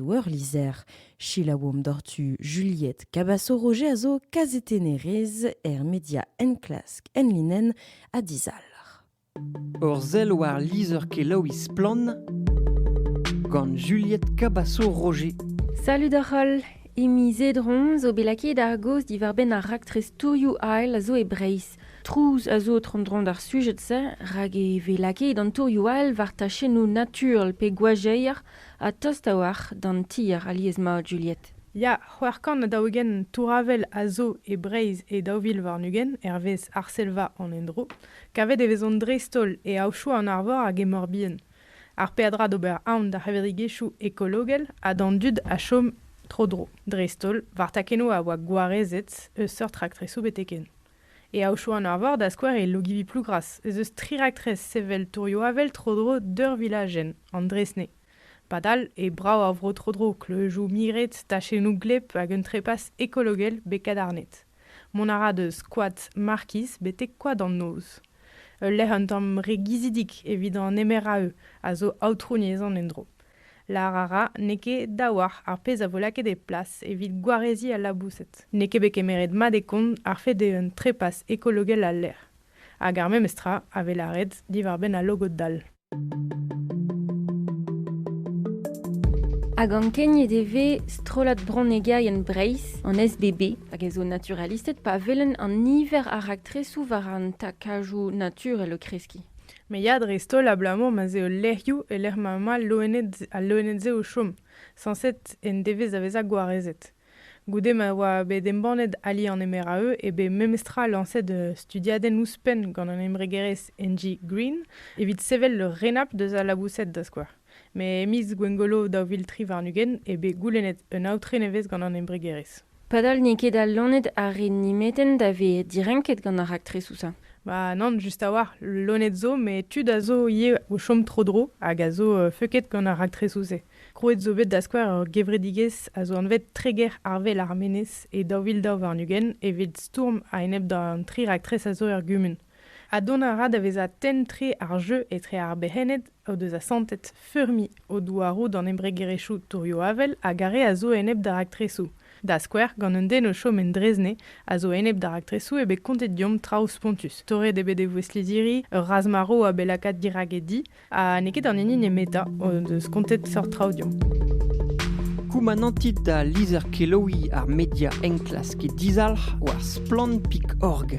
Doueur-lizher. Selaouomp doc'htu Juliette Cabasso-Roger a zo kazetennerez er media enklask enlinenn ha dizalc'h. Ur sell war lizher kelaouiñ Splann gant Juliette Cabasso-Roger. Salut d'ar holl! Imi Zedron zo bet lakaet ar gaoz diwar-benn ar raktres Tourioù Ail a zo e Breizh. Trouz a zo tro-dro d'ar sujed-se rak e vez lakaet an tourioù ail war tachennoù naturel pe gwajeier ha tost a-walc'h d'an tier alies-mat Juliette. Ya, c'hwec'h kant ha daou-ugent tour-avel a zo e Breizh e daou vil warn-ugent hervez Arsellva an endro. Kavet e vezont dreist-holl e aochoù an arvor hag e Mor-Bihan, ar peadra d'ober aon d'ar c'hevredigezhioù ekologel ha d'an dud a chom tro-dro, dreist-holl war takennoù a oa gwarezet eus seurt raktresoù betek-hen. E Aochou an Arvor, da skouer, e Logivi-Plougras, ez eus tri raktres sevel tourioù-avel tro-dro d'ur vilajenn, an Dresnay. Padal eo brav ar vro tro-dro, kleujoù miret, tachennoù gleb hag un trepas ekologel bet kadarnet. Mont a ra deus Koad Markiz betek Koad an Noz. Ul lec'h un tamm re gizidik evit an MRAE a zo aotrouniezh an endro. Lâr a ra n'eo ket daouarc'h ar pezh a vo lakaet e plas evit gwareziñ al laboused. N'eo ket bet kemeret mat e kont ar fed eeun trepas ekologel al lec'h, hag ar memes tra a vez lâret diwar-benn al logod-dall. Hag ankeniet e vez strollad bronnegerienn Breizh, an SBB, hag e zo naturalisted pa welenn an niver a raktresoù war an takajoù naturel o kreskiñ. Me ya dreist-holl abalamour ma 'z eo lec'hioù e-lec'h ma emañ al loened-se o chom, sañset en devez da vezañ gwarezet. Goude ma oa bet embannet ali an MRAE eo bet memestra lañset studiadenn ouzhpenn gant an embregerezh Engie Green evit sevel ur renabl deus al laboused da skouer. Met e miz Gwengolo daou vil tri warn-ugent eo bet goulennet un aotre nevez gant an embregerezh. Padal n'eo ket al loened ar re nemetent a vez direnket gant ar raktresoù-se. Ba nann, just a-walc'h, loened zo, met tud a zo ivez o chom tro-dro hag a zo feuket gant ar raktresoù-se. Krouet zo bet da skouer ur gevredigezh a zo anvet Treger Arvel ar Menez e daou vil daou warn-ugent evit stourm a-enep d'an tri raktres a zo er gumun. ha dont a ra da vezañ tenn-tre ar jeu etre ar bec'henned o deus asantet feurmiñ o douaroù d'an embregerezhioù tourioù-avel hag ar re a zo enep d'ar raktresoù, da skouer gant un den o chom en Drezne a zo enep d'ar raktresoù eo bet kontet deomp traoù spontus. Torret eo bet e vouezh-lizhiri, ur razh-marv a bet lakaat dirak e di, Ha n'eo ket an hini nemetañ o deus kontet seurt traoù deomp. Koumanantit da lizher-kelaouiñ ar media enklask dizalc'h war splann.org.